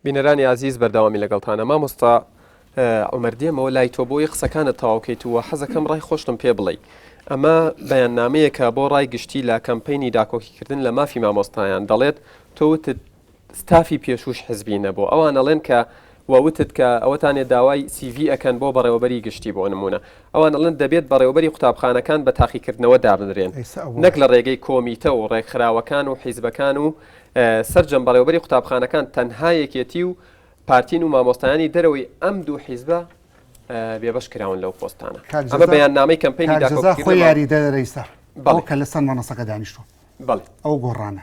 بینەرانی ئازیز بەردەوامی لەگەڵتانە مامۆستا ئەومەردێمەوە لای تۆ بۆی قسەکانت تەواوکەیت وە حەزەکەم ڕای خۆشتم پێ بڵێ ئەمە بەیاننامەیەکە بۆ ڕای گشتی لە کەمپینی داکۆکیکردن لە مافی مامۆستایان دەڵێت تۆوتت ستافی پێشوش حزبی نەبوو ئەوان ئەڵێن کە و وتت کە ئەوەتان ێە داوای سی ڤی ئەکەن بۆ بەڕێوەبەری گشتی بۆ نموونە ئەوان ئەڵێن دەبێت بەڕێوەبەری قوتابخانەکان بە تاقیکردنەوە دابنرێن نەک لە ڕێگەی کۆمیتە و ڕێکخراوەکان و حیزبەکان و سەرجەم بەڕێوەبەری قوتابخانەکان تەنها یەکێتی و پارتین و مامۆستایانی دەرەوەی ئەم دوو حیزبە بێبەش کراون لەو پۆستانە ئەمە بەیاننامەی کەمپینی داکۆکیکردنی مامۆستایانی بەڵێ ئەو گۆڕانە.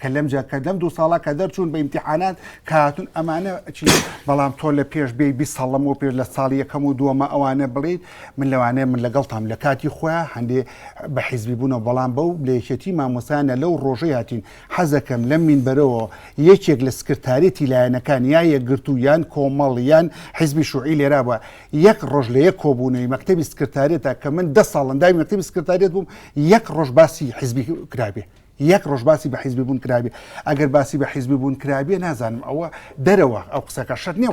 کە لەم جا کە لەم دوو ساڵە کە دەرچوون بە ئیمتحانات کاتون ئەمانە چی بەڵام تۆ لە پێش بێ بی ساڵم و پێش لە ساڵی یەکەم و دووەمە ئەوانە بڵیت من لەوانەیە من لەگەڵ تام لە کاتی خۆیان هەندێ بە حیزبی بوونەوە بەڵام بەو لەیەکێتی مامۆسانە لەو ڕۆژەی هاتین حەزەکەم لەم مینبەرەوە یەکێک لە سکرتارێتی لایەنەکان یا یەکگرت و یان کۆمەڵ یان حیزبی شوعی لێرا بە یەک ڕۆژ لە یەک کۆبوونەوەی مەکتتەبی سکرتارێتە کە من دە ساڵنداوی مەکتتەبی سکرتارێت بووم یەک ڕۆژ باسی حیزبی کرابێ یەک ڕۆژ باسی بە حیزبی بوون کرابێ ئەگەر باسی بە حیزبی بوون کرابێ نازانم ئەوە دەرەوە ئەو قسەکە شت نیە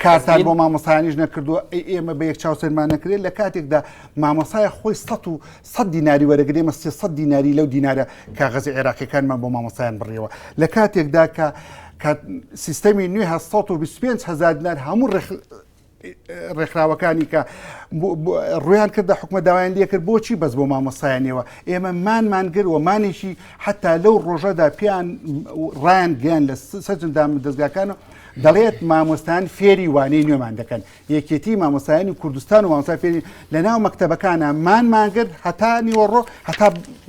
کارتان بۆ مامۆسایانیش نەکردووە ئێمە بە یەک چاوسەرمان نەکرێت لە کاتێکدا مامۆسای خۆی سە و سە دیناری وەرەگرێ مە سێ سە دیناری لەو دینارە کاغەزی عێراقیەکانمان بۆ مامۆسایان بڕیەوە لە کاتێکدا کە سیستەمی نوێ هە 125 هزار دینار هەموو ڕێکخراوەکانی کە ڕویان کردە حکومە داوایان لەکرد بۆچی بەس بۆ مامۆسایانەوە ئێمە مانمانگر و مانێکی حتا لەو ڕۆژەدا پێیان ڕایان گەیان لە سەرجمدا من دەستگاکان و دەڵێت مامۆستان فێری وانەی نوێمان دەکەن یەکێتی مامۆسایانی کوردستان و مامۆستا فێری لە ناو مەکتتەبەکانە مانمانگر هەتا نیوەڕۆ هەتا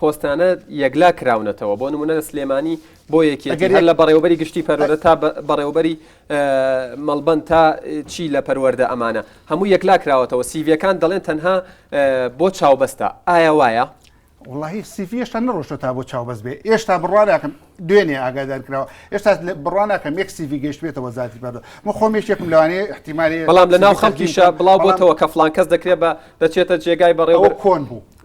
پۆستانە یەکلا کراونەتەوە بۆ نمونە لە سلێمانی بۆ یەکێتی هەر لە بەڕێوبەری گشتی پەروەرە تا بەڕێوبەری مەڵبەند تا چی لە پەروەەردە ئەمانە هەموو یەکلا کراوەتەوە سیڤەکان دەڵێن تەنها بۆ چاوبەستە ئایا وایە؟ وڵی سیفیشتا نڕۆشتە تا بۆ چاوبەست بێ ئێشتا بڕواناکەم دوێنێ ئاگادار کراوە ئێستا بڕواناکەم یەک سیفی گەشتێتە وەزارتی بەردە من خۆمێشێکم لەوانەیە احتیممالی بەڵام لە ناو خەڵکیشە بڵاو بۆتەوە کە فلان کەس دەکرێت بە دەچێتە جێگای بەڕێوە کۆن بوو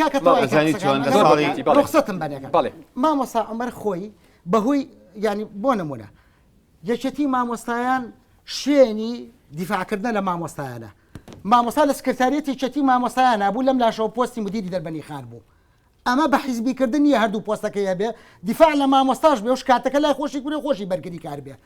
کاکە تەوای کە قسەکانت زۆر بەرزە بەڵێ بەڵێ کاکە ڕوخسەتم بەنێ کاکە بەڵێ مامۆستا عومەر خۆی بەهۆی یانی بۆ نموونە یەکێتی مامۆستایان شوێنی دیفاع کردنە لە مامۆستایانە مامۆستا لە سکرتاریەتی یەکێتی مامۆستایان هەبوو لەم لاشەوە پۆستی مدیری دەربەنی خان بوو ئەمە بە حیزبیکردن نیە هەردوو پۆستەکەی هەبێ دیفاع لە مامۆستاش بێ و شکاتەکە لای خۆشی کوری خۆشی بەرگری کار بێ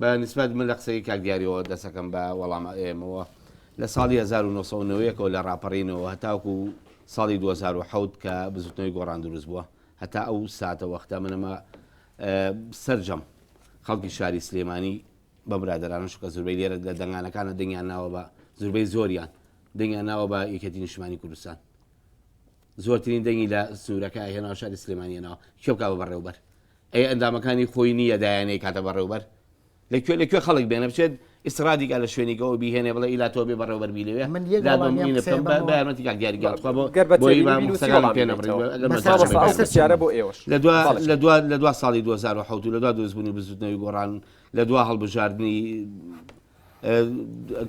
بە نیسبەت من لە قسەی کاک دیاریەوە دەسەکەم بە وەڵام ئێمەوە لە ساڵی 1990ەوە لە ڕاپەڕینەوە هەتاوکو ساڵی 2010 کە بزوتنەوەی گۆڕان دروست بووە هەتا ئەو ساتە وەختە منەمە سرجەم خەڵکی شاری سلێمانی بە برادرانە شکە زوربەی لێرە لە دەنگانەکانە دنگیان ناوە بە زوربەی زۆریان دنگیان ناوە بە یەکێتی نیشمانی کوردستان زۆرترین دەنگی لە سوورەکە هێنا شاری سلێمانیەنەوە کێوکە بە بەڕێوبەر ئەی ئەندامەکانی خۆی نی یە دایە نەی کاتە بە ڕێوبەر لە کوێ لە کوێ خەڵک بێنە بچێت ئیسرا دیگا لە شوێنی گەوە بی هێنێ بڵێ ئیلا تۆ بێ بەڕێوە بەر بی لە وێ دا بم ی نە بکەم بە یارمەتی کاک دیاری گیان تخوا بۆ بۆ ی بام قسەکانم پێ نە بڕی لە دوا لە دوا لە دوا ساڵی دووەزار و حەوت و لە دوا دروست بوونی بزوتنەوەی گۆڕان لە دوا هەڵبژاردنی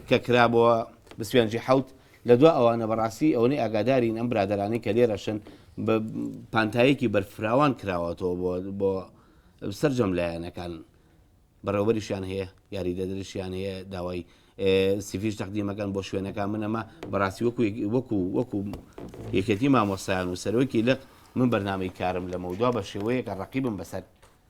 کە کرابۆوە بسپێنجی حەوت لە دوا ئەوانە بەڕاستی ئەوەی ئاگادارین ئەم برادرانەی کە لێرەشن بە پانتایەکی بەرفراوان کراوەتەوە بۆ بۆ سرجەم لایەنەکان بەڕێوەریشیان هەیە یاری دەدرشیان هەیە داوای سیفیش تەقدیمەکان بۆ شوێنەکان منەما بەڕاستی وەکو وەکو وەکو یەکێتی مامۆسایان و سەرۆکی لەق من بەرنمەی کارم لەمەودوا بە شێوەیەکە ڕقیبم بەسەر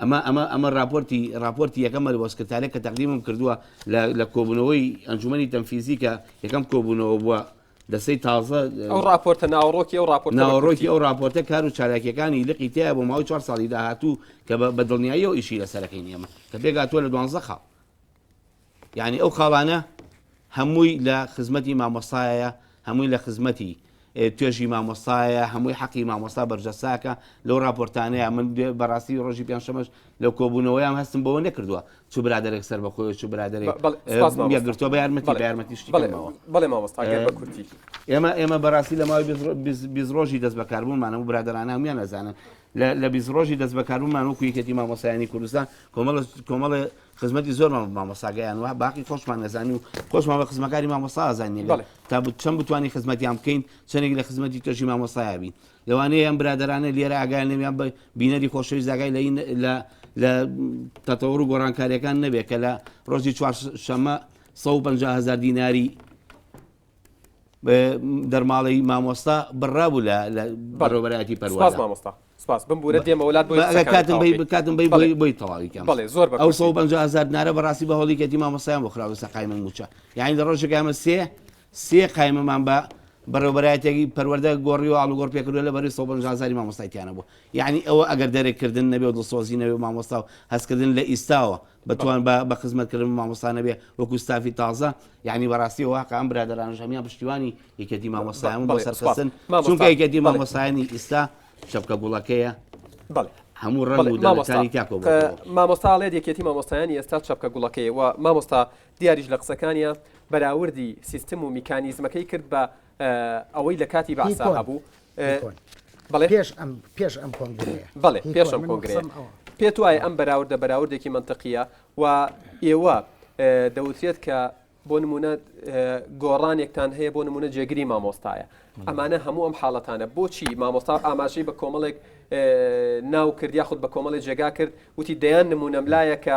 ئەمە ئەمە ئەمە ڕاپۆرتی ڕاپۆرتی یەکەمە لە بۆ سکرتارێک کە تەقدیمم کردووە لە لە کۆبوونەوەی ئەنجومەنی تەنفیزی کە یەکەم کۆبوونەوە بووە دەستەی تازە ئەو ڕاپۆرتە ناوەڕۆکی ئەو ڕاپۆرتە بە ناوەڕۆکی کورتی. ئەو ڕاپۆرتە کار و چالاکییەکانی لقی تەیە بۆ ماوەی چوار ساڵی داهاتوو کە بە بە دڵنیاییەوە ئیشی لەسەر دەکەین ئێمە کە پێکهاتووە لە دوانزە خاڵ. یانی ئەو خاڵانە هەمووی لە خزمەتی مامۆستایە هەمووی لە خزمەتی توێژی مامۆستایە هەمووی حەقی مامۆستا بەرجەساکە لەو راپۆرتانەیە من بەڕاستی ڕۆژی پێنجشەمەش لەو کۆبوونەوەیان هەستم بەوە نەکردووە چ برادێک سەر بەخۆی چ برادێک گرتۆ بە یارمەتی بە یارمەتیشتەوە بڵێ مامۆستا کورتی ئێمە ئێمە بەڕاستی لە ماوەی بیست ڕۆژی دەست بەکاربوومانە و برادرانە هەمویان ئەزانن لە لە بیست ڕۆژی دەستبەکاربوونمان وەکو یەکێتی مامۆستایانی کوردستان کۆمەڵە کۆمەڵێ خزمەتی زۆرمان بە مامۆستا گەیاند و باقی خۆشمان نەزانی و خۆشمان بە خزمەکاری مامۆستا ئازانی لێ بەڵێ. تا بت- چەند بتوانین خزمەتیان بکەین چەندێک لە خزمەتی تۆشی مامۆستایا بین لەوانەیە ئەم برادەرانە لێرە ئاگایان لەم یان بە بینەری خۆشەویست ئاگای لە این لە لە تەتەوڕ و گۆڕانکاریەکان نەبێت کە لە ڕۆژی چوار شەمە سەد و پەنجا هەزار دیناری دەرماڵی مامۆستا بڕابوو لە بەڕۆبەرایەتی پەرواز مامۆستا سپاس بمبورە دێمە وڵات بۆکاتم بکاتم بی بڵێ بۆی تەواویکەم بڵێ زۆر بە ئەو پنج هزار نارە بەڕاستی بە هەڵی کەتی مامۆستایان بۆ خراوە سەقای من موچە یعنی لە ڕۆژەکەمە سێ سێ قایمەمان بە بەڕێوبەرایەتێکی پەروەەردە گۆڕی و ئاڵوگۆڕ پێکردو لە بەری سەزاری مامۆستایتیانە بوو یعنی ئەوە ئەگەر دەرێکردن نەبێ و دڵسۆزی نەوێ مامۆستا و هەستکردن لە ئیستاوە بتوان بە بە خزمەت کردن بە مامۆستا نەبێ وەکو ستافی تازە یعنی بەڕاستی واقع ئەم برادەرانش هەمیان پشتیوانی یەکێتی مامۆستایان بۆ سەرخستن چونکە یەکێتی مامۆستایانی ئیستا شەپکە گوڵەکەیە بەڵێ هەموو ڕەنگ و دەڵەکانی تاکۆ مامۆستاڵێت یەکێتی مامۆستایانی ئێستا چەپکە گوڵەکەی و مامۆستا دیاریش لە قسەکانیە بەراوردی سیستم و میکانیزمەکەی کرد بە ئەوەی لە کاتی باسا هەبوو بەڵێ پێش ئەم پێش ئەم کۆنگرەیە بەڵێ پێش ئەم کۆنگرەیە پێت وایە ئەم بەراوردە بەراوردێکی منطقیە و ئێوە دەوترێت کە بۆ نمونە گۆڕانێکتان هەیە بۆ نمونە جێگری مامۆستایە ئەمانە هەموو ئەم حاڵەتانە بۆچی مامۆستا ئاماژەی بە کۆمەڵێک ناو کرد یاخود بە کۆمەڵی جێگا کرد وتی دەیان نمونەم لایە کە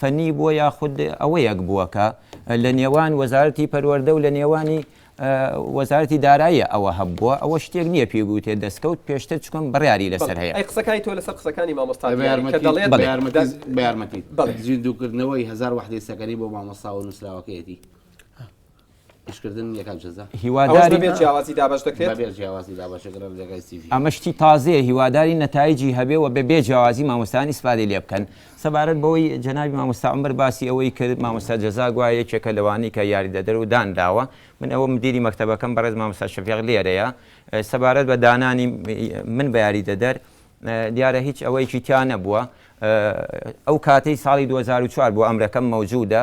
فەنی بووە یاخود ئەوەیەک بووە کە لە نێوان وەزارەتی پەروەردە و لە نێوانی وەزارەتی داراییە ئەوە هەبووە ئەوە شتێک نییە پێی بوتێ دەستکەوت پێشتر چکم بڕیاری لەسەر هەیە. ئەی قسەکانی تۆ لەسەر قسەکانی مامۆستا دیاری کە دەڵێت بە یارمەتیت زیندووکردنەوەی هەزار وەحدەی سەکەنەی بۆ مامۆستا و نووسراوەکەیەتی. ئەمە شتی تازەیە هیواداری نەتایجی هەبێ و بە بێ جیاوازی مامۆستانی سپادی لێ بکەن سەبارەت بەوەی جەنابی مامۆستا عمر باسی ئەوەی کرد مامۆستا جەزا گوایە یەکێکە لەوانەی کە یاریدەدەر و دان داوە من ئەوە مدیری مەکتەبەکەم بەڕێز مامۆستا شەفیق لێرەیە سەبارەت بە دانانی من بە یاریدەدەر دیارە هیچ ئەوەیەکی تیا نەبووە ئەو کاتەی ساڵی 2004 بۆ ئەمرەکەم مەوجودە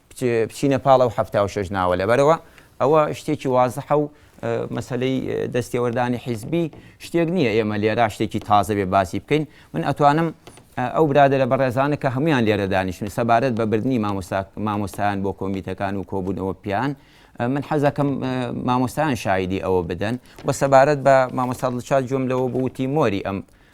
بچینە پاڵ ئەو حەفتا و شەش ناوە لەبەرئەوە ئەوە شتێکی وازحە و مەسەلەی دەستێوەردانی حیزبی شتێک نییە ئێمە لێرا شتێکی تازە بێ باسی بکەین من ئەتوانم ئەو برادەرە بەڕێزانە کە هەمویان لێرە دانیشتن سەبارەت بە بردننی مامۆستایان بۆ کۆمیتەکان و کۆبوونەوە پیان من حەزەکەم مامۆستایان شایدی ئەوە بدەن و سەبارەت بە مامۆستا دڵشاد جۆم لەوە بوتی مۆری ئەم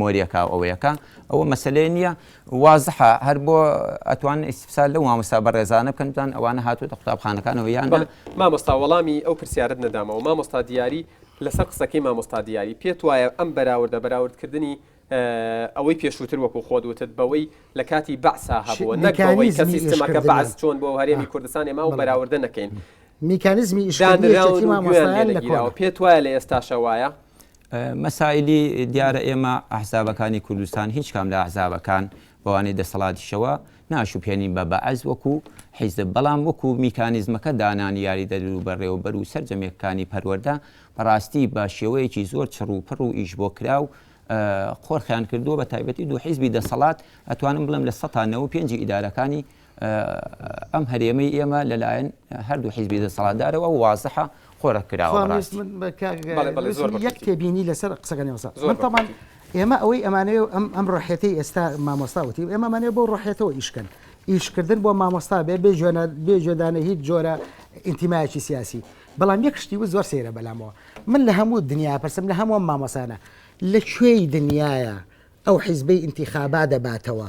مۆریەکە و ئەویەکە ئەوە مەسەلەی نییە وازحە هەر بۆ ئەتوان ئیسفسار لە مامۆستا بەڕێزانە بکەن بزان ئەوانە هاتوتە قوتابخانەکانەوە یان مامۆستا وەڵامی ئەو پرسیارت نەدامەوە مامۆستا دیاری لەسەر قسەکەی مامۆستا دیاری پێت وایە ئەم بەراوردە بەراوردکردنی ئەوەی پێشووتر وەکو خۆت وتت بەوەی لە کاتی بەعسا هەبووە نەک بەوەی کە سیستمەکە بەعس چۆن بۆ هەرێمی کوردستان ئێمە و بەراوردە نەکەین میکانزمی ئیشدانراوی مامۆستایان لە گیراوە پێت وایە لە ئێستاشە وایە مەسایلی دیارە ئێمە ئەحزابەکانی کوردستان هیچ کام لە ئەحزابەکان بەوانەی دەسەڵاتیشەوە ناشوبهێنین بە بەعس وەکو حیزب بەڵام وەکو میکانیزمەکە دانانی یاریدەدەر و بەڕێوەبەر و سەرجەم یەکەکانی پەروەردە بەڕاستی بە شێوەیەکی زۆر چڕ و پڕ و ئیش بۆ کراو قۆرخیان کردووە بە تایبەتی دوو حیزبی دەسەڵات ئەتوانم بڵێم لە سەتا نەوەو پێنجی ئیدارەکانی ئەم هەرێمەی ئێمە لەلایەن هەردوو حیزبی دەسەڵاتدارەوە وازحە قۆرە کراوە یەک تێبینی لەسەر قسەکانی وەسان ئێمە ئەوەی ئەمانەیە ئەم ئەم ڕحێتی ئێستا مامۆستا وتی ئێمەمانێ بۆ ڕحێتەوە ئیشکەن ئیشکردن بۆ مامۆستا بێ بێ جوێنە بێ جێدانە هیچ جۆرە ئینتیمایکی سیاسی بەڵام یەک شتی و زۆر سێرە بەلامەوە من لە هەموو دنیا پرسم لە هەموو مامۆسانە لە کوێی دنیاە ئەو حیزبەی ئینتیخابا دەباتەوە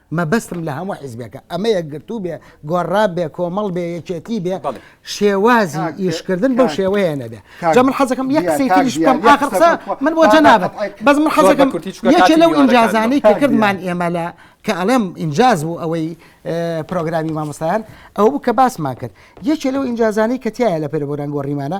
مەبەستم لە هەموو حیزبێکە ئەمە یەکگرتوو بێ، گۆڕراب بێ، کۆمەڵ بێ، یەکێتی بێ، بەڵێ. شێوازی کاک ئیشکردن بەو کاک شێوەیە نەبێ. جا کاک من حەزەکەم یەک قسەی کاک تریش دیار بکەم، یەک ئاخر قسە قسە بکە من بۆ پاتا جەنابت، قەتعی کە. بەس من زۆر بە حەزەکەم کورتی چونکە یەکێ کاتی لەو میوانەکان ئینجازانەی کە دەڕۆن. کاک دیار. کردمان ئێمە لە کە ئەڵێم ئینجاز بوو ئەوەی پرۆگرامی مامۆستایان ئەوە بوو کە باسمان کرد. یەکێ لەو ئینجازانەی کە تیایە لە پێرەبران گۆڕیمانە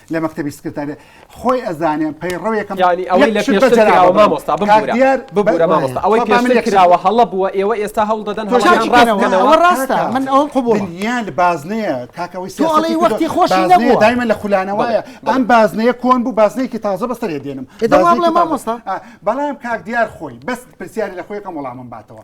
لە مەکتەبی سکرتاریە خۆی ئەزانێ پەیڕەوێکم یانی ئەوەی لە پێشتر کراوە مامۆستا ببورە ببورە مامۆستا ئەوەی پێشتر کراوە هەڵە بووە ئێوە ئێستا هەوڵ دەدەن هەڵەکان ڕاست بکەنەوە ڕاستە من ئەوەم قبوڵ دنیا لە بازنەیە کاکە ئەوەی تۆ ئەڵێی وەختی خۆش نەبووە دایمە لە خولانەوەیە ئەم بازنەیە کۆن بوو بازنەیەکی تازە بەسەرێ دێنم بەڵام کاک دیار خۆی بەس پرسیاری لە خۆیەکەم وەڵامم باتەوە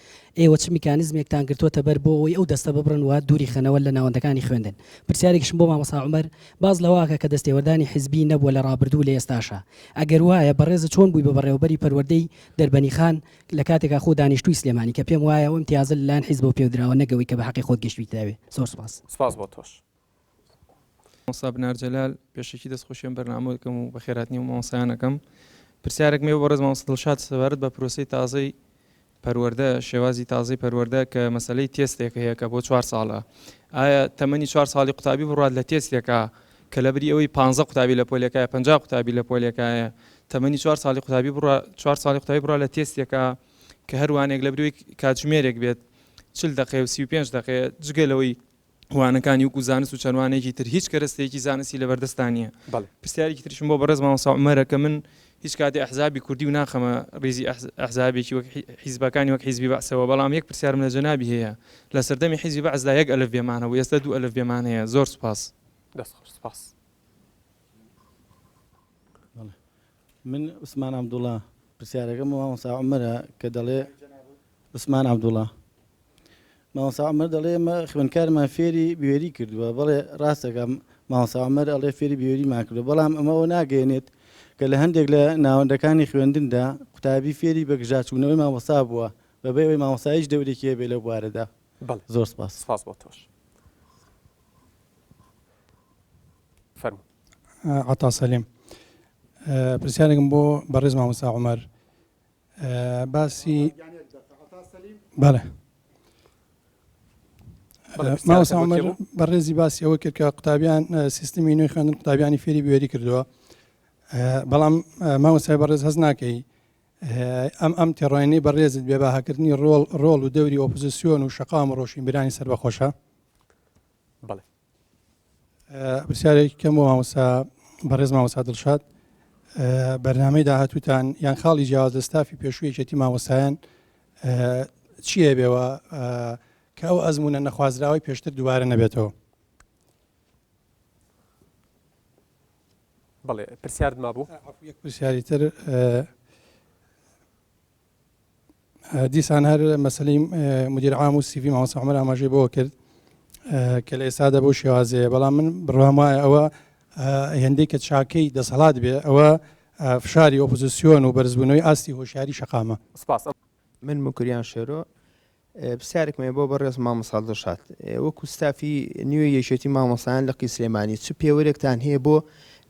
ئێوە چ میکانیزمێکتان گرتووەتە بەر بۆ ئەوەی ئەو دەستە ببڕن و دووری خەنەوە لە ناوەندەکانی خوێندن؟ پرسیارێکیشم بۆ مامۆستا عومەر باس لەوەکە کە دەستێوەردانی حیزبی نەبووە لە ڕابردوو و لە ئێستاشا ئەگەر وایە بەڕێزت چۆن بووی بە بەڕێوەبەری پەروەردەی دەربەنیخان لە کاتێکا خۆ دانیشتووی سلێمانی کە پێم وایە ئەو ئیمتیازە لەلایەن حیزبەوە پێودراوە نەک ئەوەی کە بە حەقی خۆت گەشتویتەوێ؟ زۆر سوپاس. سپاس بۆ تۆش. مامۆستا بنار جەلال پێشەکی دەست خۆشی ئەم بەرنامە دەکەم و بەخێراتنی و مامۆسایانەکەم پرسیارێک مێ بەڕێز مامۆستا دڵشاد سەبارەت بە پرۆسەی تازەی پەروەردە شێوازی تازەی پەروەردە کە مەسلەی تێستێک هەیە کە بۆ چوار ساڵە ئایا تەمەنی چوار ساڵی قوتابی بڕات لە تێستێکە کە لە بری ئەوەی پ قوتابی لە پۆلەکە پ قوتابی لە پۆلەکایە تەمەنی چوار ساڵی قوتابی بڕ چوار ساڵی قوتابی بڕە لە تێستێکە کە هەروانێک لە بروی کاتژمێرێک بێت چل دقێ و سی و پێنج دقێ جگە لەوەی وانەکانی وەکو زانست و چەند وانەیەکی تر هیچ کەرەستەیەکی زانستی لەبەردەستتان نییە بەڵێ پرسیارێکی تریشم بۆ بەڕێز مامۆستا عومەرە کە من هیچ کاتی ئەحزابی کوردی و ناخەمە ڕیزی ئەحز- ئەحزابێکی وەک حی- حیزبەکانی وەک حیزبی بەعسەوە بەڵام یەک پرسیارم لە جەنابی هەیە لە سەردەمی حیزبی بەعسدا یەک ئەلفبێمان هەبوو ئێستا دوو ئەلفبێمان هەیە زۆر سوپاس دەست خۆش سپاس. من عوسمان عەبدوڵا پرسیارەکەم بۆ مامۆستا عومەرە کە دەڵێ عوسمان عەبدوڵا مامۆستا عومەر دەڵێ ئێمە خوێندکارمان فێری بوێری کردووە بەڵێ ڕاستەکە مامۆستا عومەر ئەڵێ فێری بوێریمان کردووە بەڵام ئەمە ئەوە ناگەیەنێت کە لە هەندێک لە ناوەندەکانی خوێندندا قوتابی فێری بە گژاچوونەوەی مامۆستا بووە بەبێ ئەوەی مامۆستا هیچ دەورێکی هەبێ لەو بوارەدا بەڵێ زۆر سپاس سپاس بۆ تۆش فەرموو عەتا سەلیم پرسیارێکم بۆ بەڕێز مامۆستا عومەر باسی بەڵێ مامۆستا عومەر بەڕێزی باسی ئەوە کرد کە قوتابیان سیستمی نوێی خوێندن قوتابیانی فێری بوێری کردووە بەڵام مامۆستای بەڕێز هەز ناکەی ئەم ئەم تێڕۆینەی بەڕێزت بێ باهاکردنی ڕۆڵ ڕۆڵ و دەوری ئۆپزیسیۆن و شقام ڕۆشنبیرانی سەر بەخۆشە بڵێ پرسیارێکی کەم بۆ مامۆستا بەڕێز مامۆستا دڵشاد بەرنمەی داهاتوتان یان خاڵی جیاواز لە ستافی پێشوو یەکێتی مامۆستایان چیە بێەوە کە ئەو ئەزمونە نەخوازراوی پێشتر دووارە نەبێتەوە بڵێ پرسیارد ما بوو پرسیاری تر دیسان هەر مەسلەی مدیر عام و سیڤی مامۆستا عمر ئاماژەی بەوە کرد کە لە ئێستادا بۆ شێوازەیە بەڵام من بڕوام وایە ئەوە هێندەی کە چاکەی دەسەڵات بێ ئەوە فشاری ئۆپۆزیسیۆن و بەرزبوونەوەی ئاستی هۆشیاری شەقامە سپاس. من موکریان شێرۆ پرسیارێکم هەیە بۆ بەڕێز مامۆستا دڵشاد، وەکو ستافی نوێی یەکێتی مامۆستایان لقی سلێمانی چ پێوەرێکتان هەیە بۆ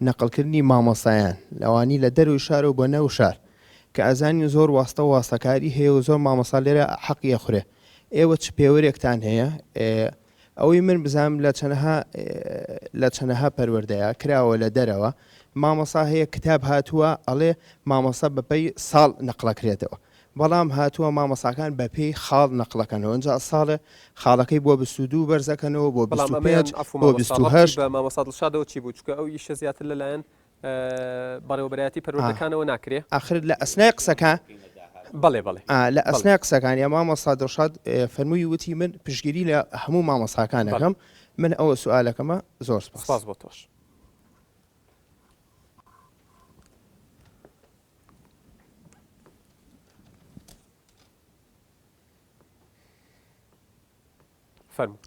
نەقڵکردنی مامۆستایان لەوانی لە دەرەوەی شارەوە بۆ ناو شار؟ کە ئەزانین زۆر واستە و واستەکاری هەیە و زۆر مامۆستا لێرە حەقی ئەخورێ ئێوە چ پێوەرێکتان هەیە؟ ئەوەی من بزانم لە چەنەها لە چەنەها پەروەردەیە کراوە لە دەرەوە مامەسا هەیە کتاب هاتووە ئەڵێ مامەسا بەپەی ساڵ نەقلەکرێتەوە بەڵام هاتووە مامەساکان بەپێی خاڵ نەقلەکەنەوە ئەجا ساڵێ خاڵەکەی بۆ بسودو بەرزەکەنەوە بۆ بەڵام بە مامەسادڵشادەوە چی بوو چکە ئەو ئیشە زیاتر لەلایەن بەڕێوەبەرایەتی پەروەردەکانەوە ناکرێ؟ ئاخر لە ئەسنای قسەکە بەڵێ بەڵێ لە ئەسنای قسەکانی مامۆستا دڵشاد فەرمووی وتی من پشگیری لە هەموو مامۆستاکانەکەم من ئەوە سوالەکەمە زۆر سپاس بۆ تۆش فەرموو.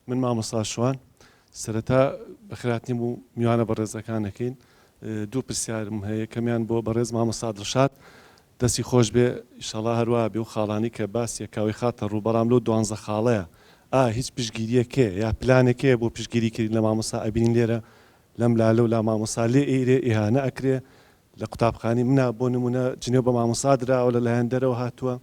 من مامۆستا شوان سەرەتا بەخێرهاتنی بۆ میوانە بەڕێزەکان ئەکەین دوو پرسیارم هەیە یەکەمیان بۆ بەڕێز مامۆستا دڵشاد دەستی خۆش بێ ئیشەڵا هەروا بێ و خاڵانی کە باسی کاوی خاتە ڕوو بەڵام لەو دوانزە خاڵەیە ئا هیچ پشگیریەک هەیە یا پلانێک هەیە بۆ پشگیری کردن لە مامۆستا ئەبینین لێرە لەم لا لەو لا مامۆستا لێ ئێرێ ئیهانە ئەکرێ لە قوتابخانی منا بۆ نمونە جنێو بە مامۆستا دراوە لە لایەن دەرەوە هاتووە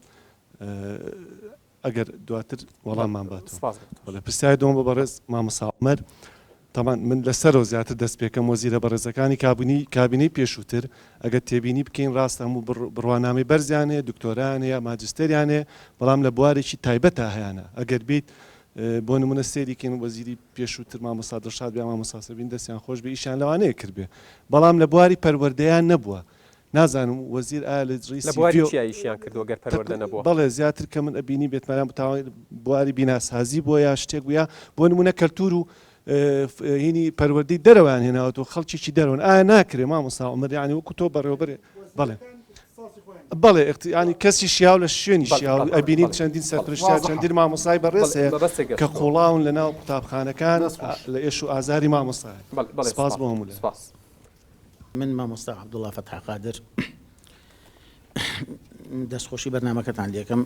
ئەگەر دواتر وەڵاممان باتەوە. سپاس بۆ تۆش. بەڵێ پرسیاری دووەم بۆ بەڕێز مامۆستا عومەر، تەبعەن من لە سەرەوە زیاتر دەست پێکەم، وەزیرە بەڕێزەکانی کابینەی کابینەی پێشووتر ئەگەر تێبینی بکەین ڕاستە هەموو بڕ بڕوانامەی بەرزیان هەیە، دکتۆرایان هەیە، ماجستێریان هەیە، بەڵام لە بوارێکی تایبەتا هەیانە، ئەگەر بیت بۆ نموونە سەیری کەین وەزیری پێشووتر مامۆستا دڵشاد بێ یان مامۆستا سەبین دەستیان خۆش بێ ئیشیان لەوانەیە کردبێ، بەڵام لە بواری پەروەردەیان نەبووە. نازانم وەزیر ئایا لە ڕیی سیڤیۆ. لە بواری چیا ئیشیان کردووە گەر پەروەردە نەبووە؟ بەڵێ زیاتر کە من ئەبینی بێتمەنان بتاوان بواری بیناسازی بووە یا شتێک بوو یا بۆ نموونە کەلتوور و هینی پەروەردەی دەرەوەیان هێناوەتەوە خەڵکێکی دەرەوەن ئایا ناکرێ مامۆستا عومەر یانی وەکو تۆ بەڕێوەبەر بەڵێ بەڵێ یانی کەسی شیاو لە شوێنی شیاو ئەبینین چەندین سەرپرشتیار چەندین مامۆستای بەڕێز هەیە کە قوڵاون لەناو قوتابخانەکان لە ئێش و ئازاری مامۆستا سپاس بۆ هەموو لایەک. من مامۆستا عبدوڵا فەتح قادر دەستخۆشی بەرنمەکەتان لەکەم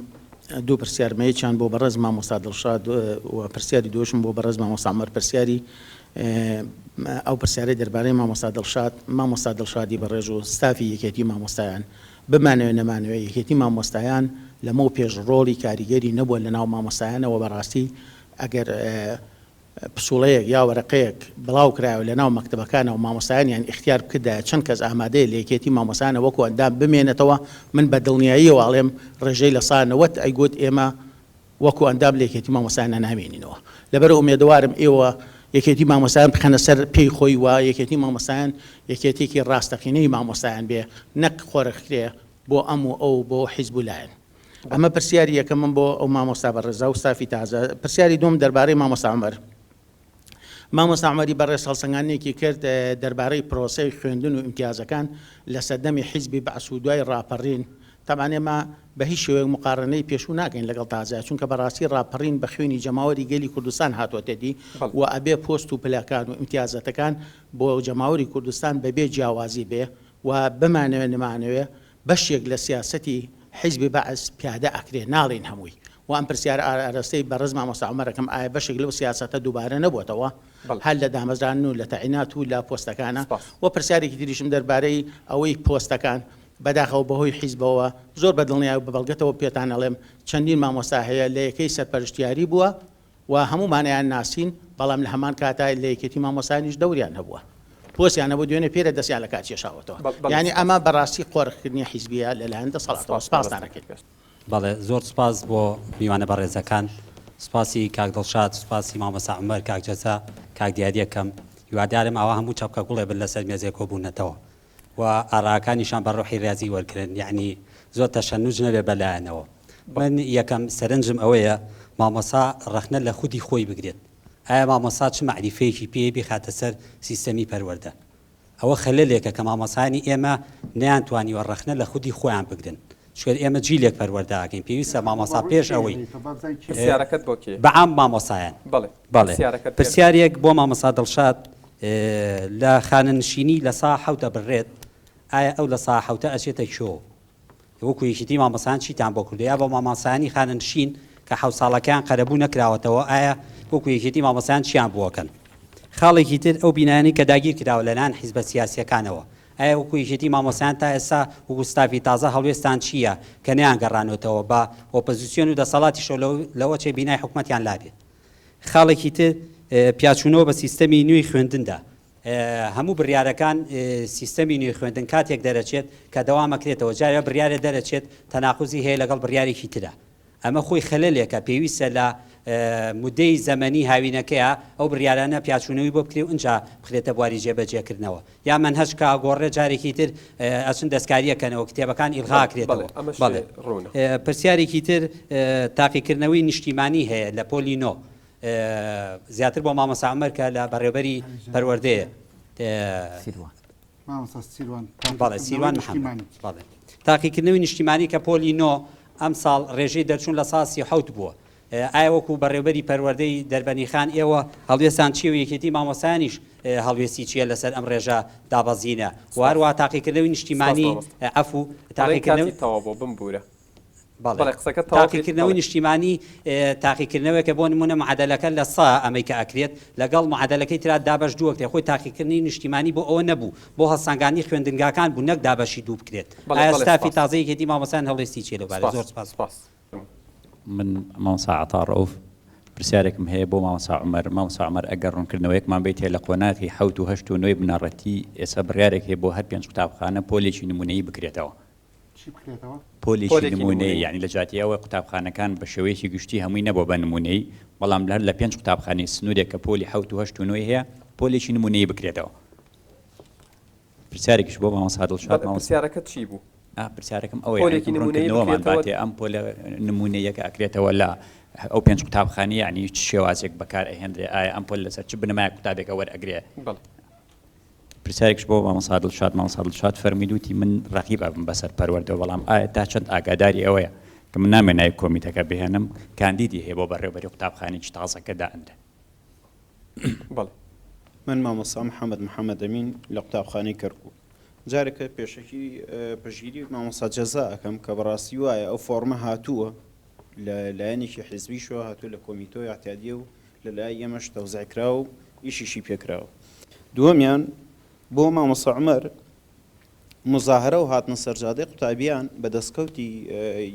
دوو پرسیارمەیەکیان بۆ بەڕێز مامۆستا دڵشاد و پرسیاری دۆشم بۆ بەڕێز مامۆسامەر پرسیاری ئەو پرسیارەی دەربارەی مامۆستا دڵشاد مامۆستا دڵشادی بەڕێژ و ستافی یەکێتی مامۆستایان بمانەوە نەمانەوە یەکێتی مامۆستایان لەمە پێش ڕۆڵی کاریگەری نەبووە لە ناو مامۆستایانەوە بەڕاستی ئەگەر پسوڵەیەک یا وەرەقەیەک بڵاو کرایەوە لەناو مەکتەبەکانەوە مامۆستایانیان ئیختیار بکردایە چەند کەس ئامادەیە لە یەکێتی مامۆستایانە وەکو ئەندام بمێنێتەوە من بە دڵنیاییەوە ئەڵێم ڕێژەی لە سا نەوەت ئەیگوت ئێمە وەکو ئەندام لە یەکێتی مامۆستایانە نامێنینەوە لەبەرئەوە ئومێدەوارم ئێوە یەکێتی مامۆستایان بخەنە سەر پێی خۆی و یەکێتی مامۆستایان یەکێتیەکی ڕاستەقینەی مامۆستایان بێ نەک قۆرخکرێ بۆ ئەم و ئەو بۆ حیزب و لایەن. ئەمە پرسیاری یەکەمم بۆ ئەو مامۆستا بەڕێزا و ستافی تازە پرسیاری دوم دەربارەی مامۆستا عومەر مامۆستا عومەری بەڕێز هەڵسەنگاندنێکی کرد دەربارەی پرۆسەی خوێندن و ئیمتیازەکان لە سەردەمی حیزبی بەعس و دوای ڕاپەڕین تەبان ئێمە بە هیچ شێوەیەک مقارنەی پێشوو ناکەین لەگەڵ تازە چونکە بەڕاستی ڕاپەڕین بە خوێنی جەماوەری گەلی کوردستان هاتووەتە دی و ئەبێ پۆست و پلەکان و ئیمتیازەتەکان بۆ جەماوەری کوردستان بەبێ جیاوازی بێ و بمانەوێ نمانەوێ بەشێک لە سیاسەتی حیزبی بەعس پیادە ئەکرێ ناڵێین هەمووی وە ئەم پرسیارە ئارەستەی بەڕێز مامۆستا عومەر ئەکەم ئایا بەشێک لەو سیاسەتە دووبارە نەبۆتەوە هەر لە دامەزراندن و لە تەعینات و لە پۆستەکانە؟ وە پرسیارێکی تریشم دەربارەی ئەوەی پۆستەکان بەداخەوە بەهۆی حیزبەوە زۆر بە دڵنیای و بە بەڵگەتەوە پێتان ئەڵێم چەندین مامۆستا هەیە لە یەکەی سەرپەرشتیاری بووە و هەموومانیان ناسین، بەڵام لە هەمان کاتا لە یەکێتی مامۆستایانیش دەوریان هەبووە، پۆستیان هەبووە، دوێنێ پێرە دەستیان لە کار کێشاوەتەوە، یانی ئەمە بە ڕاستی قۆرخکردنی حیزبییە لە لایەن دەسەڵاتەوە. سپاستان ئەکەین. بەڵێ زۆر سوپاس بۆ میوانە بەڕێزەکان سوپاسی کاک دڵشاد سوپاسی مامۆستا عومەر کاک جەزا کاک دیاری ئەکەم هیوادارم ئاوا هەموو چەپکە گوڵێ بن لەسەر مێزێ کۆبوونەتەوە. و ئاراکانیشان بە ڕۆحی ڕیازی وەرگرن یەعنی زۆر تەشەنوج نەبێ بە لایانەوە من یەکەم سەرنجم ئەوەیە مامۆسا ڕەخنە لە خودی خۆی بگرێت ئایا مامۆسا چ مەعریفەیەکی پێیە بیخاتە سەر سیستەمی پەروەردە ئەوە خەلەلێکە کە مامۆسایانی ئێمە نەیانتوانیوە ڕەخنە لە خودی خۆیان بگرن چونکە ئێمە جیلێک پەروەردە ئەکەین پێویستە مامۆستا پێش ئەوەی پرسیارەکەت بۆ کێ؟ بە عام مامۆستایان. بەڵێ. بەڵێ. پرسیارەکەت پێ. پرسیارێک بۆ مامۆستا دڵشاد لە خانەنشینی لە سا حەوت ئەبررێت ئایا ئەو لە سا حەوتە ئەچێتە کۆ وەکو یەکیتی مامۆستایان چیتان بۆ کردووە یا بۆ مامۆستایانی خانەنشین کە حەوت ساڵەکەیان قەرەبوو نەکراوەتەوە ئایا وەکو یەکیتی مامۆستایان چیان بۆ ئەکەن؟ خاڵێکی تر ئەو بینایانەی کە داگیر کراوە لەلایەن حیزبە سیاسییەکانەوە ئایا وەکو یەکێتی مامۆستایان تا ئێستا وەکو ستافی تازە هەڵوێستتان چی یە کە نەیانگەڕانۆتەوە بە ئۆپزسیۆن و دەسەڵاتیشەوە لەو لەوەچێ بینای حکومەتیان لابێ؟ خاڵێکی تر پیاچونەوە بە سیستەمی نوێی خوێندندا هەموو بریارەکان سیستەمی نوێی خوێندن کاتێک دەرەچێت کە دەوامەکرێتەوە جارێ بریارێ دەرەچێت تەناقوزی هەیە لەگەڵ بریارێکی ترا، ئەمە خۆی خەلەلێکە پێویستە لە مودەی زەمەنی هاوینەکەیا ئەو بریارانە پیاچونەوی بۆ بکرێ و ئنجا بخرێتە بواری جێ بەجێ کردنەوە یا مەنهەج کە ئەگۆڕرێ جارێکی تر ئەچن دەستکاری ئەکەنەوە کتێبەکان ئیلغا ئەکرێتەوە بەڵێ پرسیارێکی تر تاقیکردنەوەی نیشتیمانی هەیە لە پۆلی نۆ زیاتر بۆ مامۆستا عومەر کە لە بەڕێوبەری پەروەردەیە سیروان. بەڵێ سیروان محەمەد. تاقیکردنەوەی نیشتیمانی کە پۆلی نۆ ئەمساڵ رێژەی دەرچوون لە ساڵ سی و حەوت بووە، ئایا وەکو بەڕێوەبەری پەروەردەی دەربەنیخان ئێوە هەڵوێستتان چییە و یەکێتی مامۆستایانیش هەڵوێستی چییە لەسەر ئەم رێژە دابەزینە و هەروەها تاقیکردنەوەی نیشتیمانی عەفوو تاقیکردنەوەی. بەڵێ تاقیکردنەوەی نیشتیمانی تاقیکردنەوەکە بۆ نمونە معادلەکە لە سا ئەمەی کە ئەکرێت لەگەڵ معادلەکەی تررا دابش دووە کرێت خۆی تاقیکردنی نیشتیمانی بۆ ئەوە نەبوو بۆ هەڵسانگانی خوێندنگاکان بوو نەک دابەشی دوو بکرێت ئاستافی تازەی هێدی مامەسان هەڵێستی چێ لە بارە زۆر سپاس سپاس من مامسا عطا ڕوف پرسیارێکم هەیە بۆ مامسا عمر مامسا عمر ئەگەر ڕوونکردنەوەیەکمان بیت هەیە لە قۆناغی حوت و هەشت و نوێی بنەڕەتی ئێستا بڕارێک هەیە بۆ هەر پێنج قوتابخانە پۆلێکی نمونەیی بکرێتەوە پۆلێکی نموونەیی، یانی لە جیاتی ئەوەی قوتابخانەکان بە شێوەیەکی گشتی هەمووی نەبووە بە نموونەیی، بەڵام هەر لە پێنج قوتابخانەی سنوورێک کە پۆلی حەوت و هەشت و نۆی هەیە، پۆلێکی نموونەیی بکرێتەوە. پرسیارێکیش بۆ مامۆستا دڵشاد. بەڵێ، پرسیارەکەت چی بوو؟ پرسیارەکەم ئەوەیە، ئەگەر بڕوونکردنەوەمان باتێ ئەم پۆلە نموونەییە کە ئەکرێتەوە لە ئەو پێنج قوتابخانەیە، یانی چ شێوازێک بەکارئەهێنرێ؟ ئایا ئەم پۆلە لەسەر چ بنەمایەک قوتابێکە وەرئەگرێ؟ بەڵێ. پرسیارێکش بۆ مامۆستا دڵشاد مامۆستا دڵشاد فەرمووی دوتی من ڕەقیب ئەبم بەسەر پەروەردەوە بەڵام ئایا تا چەند ئاگاداری ئەوەیە کە من نامێ ناوی کۆمیتەکە بهێنم کاندیدی هەیە بۆ بەڕێوەبەری قوتابخانێکی تازەکە دائەنرێ بەڵێ من مامۆستا محەممەد محەممەد ئەمین لە قوتابخانەی کەرکوو جارێکە پێشەکی پژگیری مامۆستا جەزا ئەەکەم کە بەڕاستی وایە ئەو فۆرمە هاتووە لە لایەنێکی حیزبیشەوە هاتوو لە کۆمیتۆ یاعتیادیە و لە لای ئێمەش تەوزیع کراوە و ئیشیشی پێ کراوە. دووەمیان بۆ مامۆستا عومەر موزاهەرە و هاتنە سەرجادەی قوتابیان بە دەستکەوتی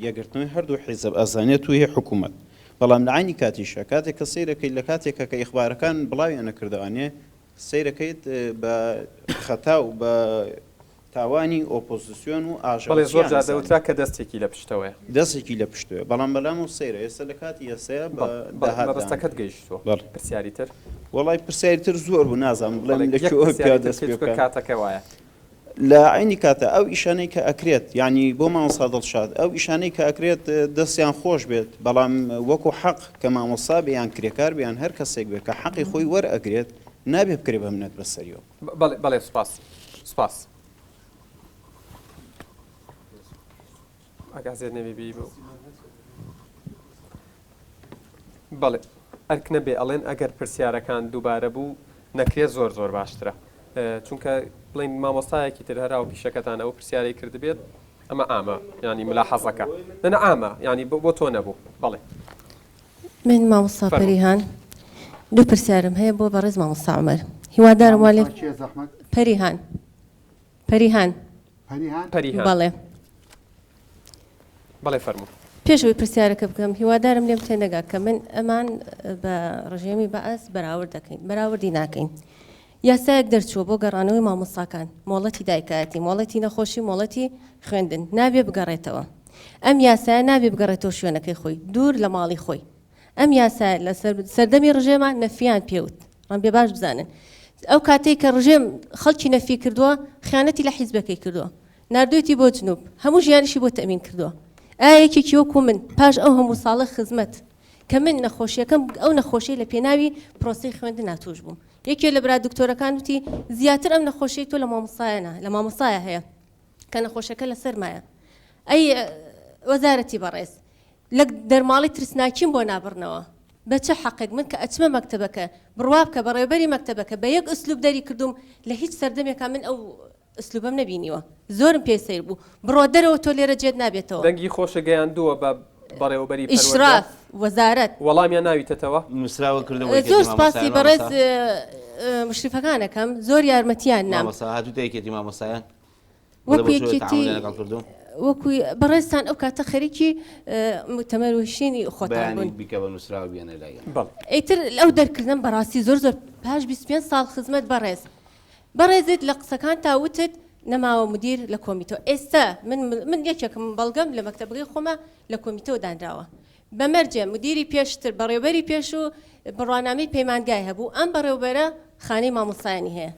یەکگرتنەوەی هەردوو حیزب ئەزانێت و هی حکوومەت. بەڵام لە عەینی کاتیشا کاتێک کە سەیر ئەکەیت لە کاتێکا کە ئیخبارەکان بڵاویان نەکردوانێ سەیر ئەکەیت بە خەتا و بە تاوانی ئۆپۆزسیۆن و ئاژاوەچییان ئەزانێ. بەڵێ زۆر جار دەوترا کە دەستێکی لە پشتەوەیە. دەستێکی لە پشتەوەیە. بەڵام بەلام و سەیرە ئێستا لە کاتی ئێستایا بە داهات دانرێ. مەبەستەکەت گەیشتووە. بەڵێ. پرسیاری تر؟ وەڵای پرسیاری تر زۆر بوو نازانم بڵێم لە کوێوە بۆ کوێوە دەست پێ بکەم. کاتەکە وایە. لە عەینی کاتا ئەو ئیشانەی کە ئەکرێت یانی بۆ مامۆستا دڵشاد ئەو ئیشانەی کە ئەکرێت دەستیان خۆش بێت بەڵام وەکو حەق کە مامۆستا بێ یان کرێکار بێ یان هەر کەسێک بێ کە حەقی خۆی وەرئەگرێت نابێ بکرێ بە منەت بە سەریەوە. بەڵێ بەڵێ سپاس سپاس ئەگازێت نەوی بی بوو بەڵێ ئەرک نەبێ ئەڵێن ئەگەر پرسیارەکان دووبارە بوو نەکرێت زۆر زۆر باشترە چونکە بڵین مامۆستایەکی تر هەرا و پیشەکەتان ئەو پرسیارەی کردبێت ئەمە ئامە ینی ملا حەزەکە نەنە ئامە ینی بۆ تۆ نەبوو بەڵێ من مامۆستا پەریهان دوو پرسیارم هەیە بۆ بەڕێز مامۆستا عومەر هیوادارم وا لێ پەریهان پەریهان پەریهان بەڵێ بەڵێ فەرموو پێشەوەی پرسیارەکە بکەم هیوادارم لێم تێنەگا کە من ئەمان بە ڕژێمی بەئەس بەراورد دەکەین بەراوردی ناکەین یاسایەک دەرچووە بۆ گەڕانەوەی مامۆستاکان، مۆڵەتی دایکایەتی، مۆڵەتی نەخۆشی، مۆڵەتی خوێندن، نابێ بگەڕێتەوە. ئەم یاسایە نابێ بگەڕێتەوە شوێنەکەی خۆی، دوور لە ماڵی خۆی. ئەم یاسایە لە سەردەمی ڕژێما نەفیان پێ وت. ڕەنبێ باش بزانن. ئەو کاتەی کە ڕژێم خەڵکی نەفی کردووە، خیانەتی لە حیزبەکەی کردووە. ناردوویەتی بۆ جنوب. هەموو ژیانیشی بۆ تەمین کردووە. ئایا یەکێکی وەکوو من، پاش ئەو هەموو ساڵە خزمەت، کە من نەخۆشیەکەم ئەو نەخۆشی لە پێناوی پرۆسی خوێندنا توش بووم یەکێ لە برا دکتۆرەکان وتی زیاتر ئەم نەخۆشی تۆ لە مامۆسایەە لە مامۆسایە هەیە کە نەخۆشەکە لە سەرمایە ئەی وەزارەتی بەڕێز لە دەرماڵی ترسناکیم بۆ نابڕنەوە بە چه حەقێک من کە ئەچمە مەکتتەبەکە بڕوا بکە بە ڕێبەری مەکتتەبەکە بە یەک ئەسلوب دەری کردوم لە هیچ سەردەمێکە من ئەو ئسلوبم نەبینیوە زۆرم پێ سەیر بوو. بڕۆ دەرەوە تۆ لێرە جێت نابێتەوە. دەنگی خۆشە گەیاندووە بە بەڕێوەبەری پەروەردە. ئشراف وەزارەت. وەڵامیان ناویتەتەوە؟ نوسراوە کردە وەی کێتی مامۆستایە مامۆستا. زۆر سوپاسی بەڕێز مشرفەکان ئەکەم زۆر یارمەتیان نام. مامۆستا هاتویتە یەکێتی مامۆستایان؟ بڵێ بۆ چۆن تەعامولیان لەگەڵ کردوون. وەکو یەکێتی بەڕێزتان ئەو کاتە خەریکی موتەمەر و شینی خۆتان بوون. بەیانی بیکە بە نوسراوە بیەنە لای ئێمە. ئیتر ئەو دەرکردنەم بەڕاستی زۆر زۆر پاش بیست و پێنج ساڵ خزمەت بەڕێز. بەڕێزت لە قسەکانتا وتت نەماوە مدیر لە کۆمیتەوە ئێستە من من یەکێکم بەڵگەم لە مەکتەبگەی خۆمە لە کۆمیتەوە دانراوە بە مەرجێ مدیری پێشتر بەڕێوبەری پێش و بڕوانامەی پەیمانگای هەبوو ئەم بەڕێوبەرە خانەی مامۆستایانی هەیە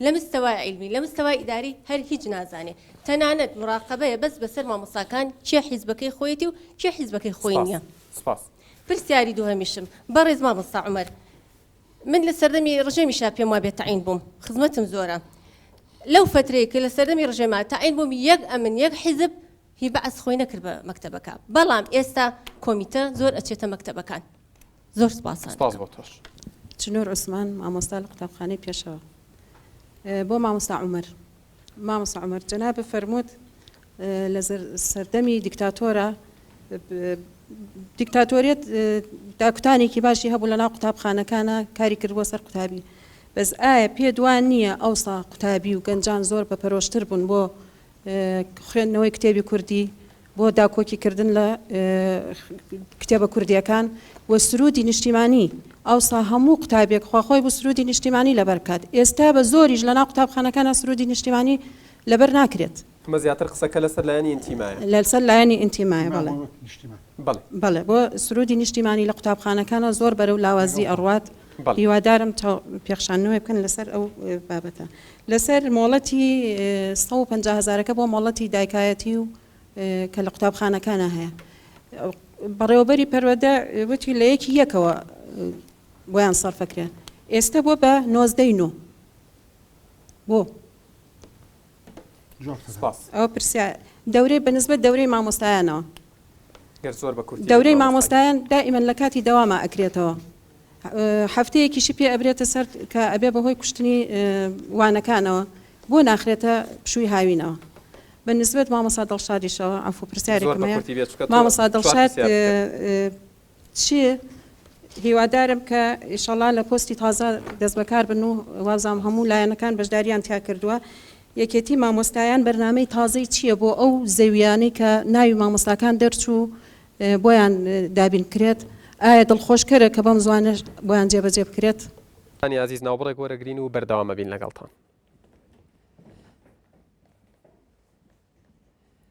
لە مستەوای عیلمی لە مستەوای ئیداری هەر هیچ نازانێ تەنانەت مراقبەیە بەس بەسەر مامۆستاکان کێ حیزبەکەی خۆیەتی و کێ حیزبەکەی خۆی نییە سپاس سپاس پرسیاری دووهەمیشم بەڕێز مامۆستا عومەر من لە سەردەمی ڕژێمی شا پێم وابێت تەعین بووم خزمەتم زۆرە لەو فترەیە کە لە سەردەمی ڕژێما تەعین بووم یەک ئەمن یەک حیزب هی بەعس خۆی نەکرد بە مەکتەبەکە بەڵام ئێستا کۆمیتە زۆر ئەچێتە مەکتەبەکان زۆر سپاسان سپاس بۆ تۆش چنور عثمان مامۆستا لە قوتابخانەی پێشەوە بۆ مامۆستا عمر مامۆستا عومەر جەنابت فەرمووت لە سەردەمی دیکتاتۆرە دیکتاتۆریەت داکوتانێکی باشی هەبوو لە ناو قوتابخانەکانە کاری کرد بۆ سەر قوتابی بەس ئایا پێ دوان نییە ئەوسا قوتابی و گەنجان زۆر بە پەرۆشتر بوون بۆ خوێندنەوەی کتێبی کوردی بۆ داکۆکی کردن لە کتێبە کوردیەکان و سرودی نیشتیمانی ئەوسا هەموو قوتابێک خواخۆی بوو سرودی نیشتیمانی لەبەر بکات ئێستا بە زۆریش لەناو قوتابخانەکانە سرودی نیشتیمانی لەبەر ناکرێت. ئەمە زیاتر قسەکە لەسەر لایەنی ئینتیمایە. لەسەر لایەنی ئینتیمایە بەڵێ. بەڵێ. بەڵێ بۆ سرودی نیشتیمانی لە قوتابخانەکانە زۆر بەرەو لاوازی ئەڕوات هیوادارم پێخشانەوەی بکەن لەسەر ئەو بابەتە. لەسەر مۆڵەتی سەد و پەنجا هەزارەکە بۆ مۆڵەتی دایکایەتی و کە لە قوتابخانەکانە هەیە بەڕێوەبەری پەروەدە وتی لە یەکی یەکەوە بۆیان سەرفەکرێن ئێستا بۆ بە نۆزدەی نۆ بۆ ئەو پرسیار دەورەی بەنسبە دەورەی مامۆستایانەوە دەورەی مامۆستایان دائیمەن لە کاتی دەواما ئەکرێتەوە هەفتەیەکیشی پێ ئەبرێتە سەر کە ئەبێ بەهۆی کوشتنی وانەکانەوە بۆ ناخرێتە پشووی هاوینەوە بە نسبەت مامۆسا دڵشادیشەوە ئەفو پرسیارێک مامۆسا دڵشاد چی هیوادارم کە ئیشەڵا لە پۆستی تازە دەست بەکار بن و وابزانم هەموو لایەنەکان بەشداریان تیا کردووە یەکێتی مامۆستایان بەرنامەی تازەی چییە بۆ ئەو زەویانەی کە ناوی مامۆستاکان دەرچوو بۆیان دابین بکرێت ئایا دڵخۆشکەرە کە بەم زوانە بۆیان جێبەجێ بکرێت هانی ئازیز ناوبڕێک وەرەگرین و بەردەوامەبین لەگەڵتان